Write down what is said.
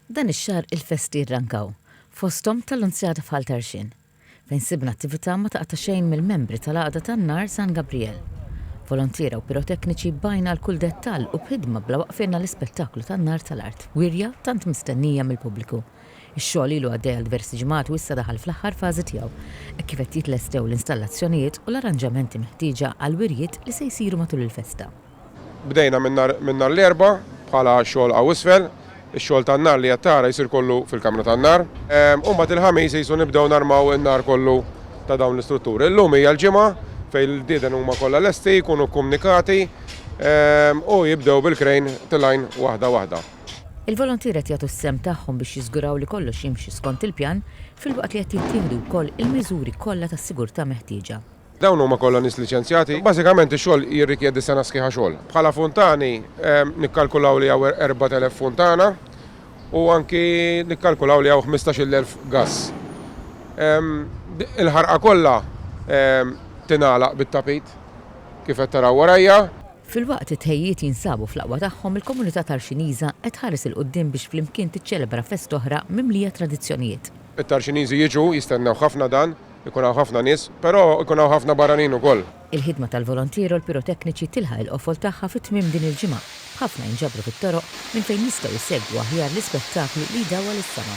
Dan ix-xahar il-festi rrankaw, fosthom tal-Lunzjata f'Ħal Tarxien, fejn sibna attività ma taqta' xejn mill-membri tal-Għaqda tan-Nar San Gabrijel. Volontiera u pirotekniċi bajna għal kull dettall u b'ħidma bla waqf għidna l-ispettaklu tan-nar tal-art wirja tant mistennija mill-pubbliku. Ix-xogħol ilu għaddej għal diversi ġimgħat u issa daħal fl-aħħar fażi tiegħu hekk kif qed jitlestew l-installazzjonijiet u l-arranġamenti meħtieġa għall-wirjiet li se jsiru matul il-festa. Bdejna minn nhar minn nhar l-Erbgħa bħala xogħol hawn isfel. Ix-xogħol tan-nar li qed tara jsir kollu fil-kamra tan-nar. U mbagħad il-Ħamis qisu nibdew narmaw in-nar kollu ta' dawn l-istrutturi. Illum hija l-Ġimgħa fejn l-ġdieden huma kollha lesti, jkunu kkumnikati u jibdew bil-krejn tilgħin waħda waħda. Il-volontier qed jagħtu s-sehem tagħhom biex jiżguraw li kollox jimxi skont il-pjan filwaqt li qed jittieħdu wkoll il-miżuri kollha tas-sigurtà meħtieġa. Dawn huma kollha nies liċenzjati. Bażikament ix-xogħol jirrikjedi sena sħiħa xogħol. Bħala funtani nikkalkulaw li hawn erbat elef funtana u anki nikkalkulaw li hawn ħmistax-il elf gass. Il-ħarqa kollha tingħalaq bit-tapit kif qed taraw warajja. Filwaqt li t-tħejjijiet jinsabu fl-aqwa tagħhom, il-komunità Tarxiniża qed tħares 'il quddiem biex flimkien tiċċelebra fest'oħra mimlija tradizzjonijiet. It-Tarxiniżi jiġu, jistennew ħafna dan, ikun hawn ħafna nies, però jkun hawn ħafna barranin ukoll. Il-ħidma tal-volontier u l-pirotekniċi tilħaq il-qofol tagħha fi tmiem din il-ġimgħa, b'ħafna jinġabru fit-toroq minn fejn jistgħu jsegwu aħjar l-ispettaklu li jdawwal is-sema.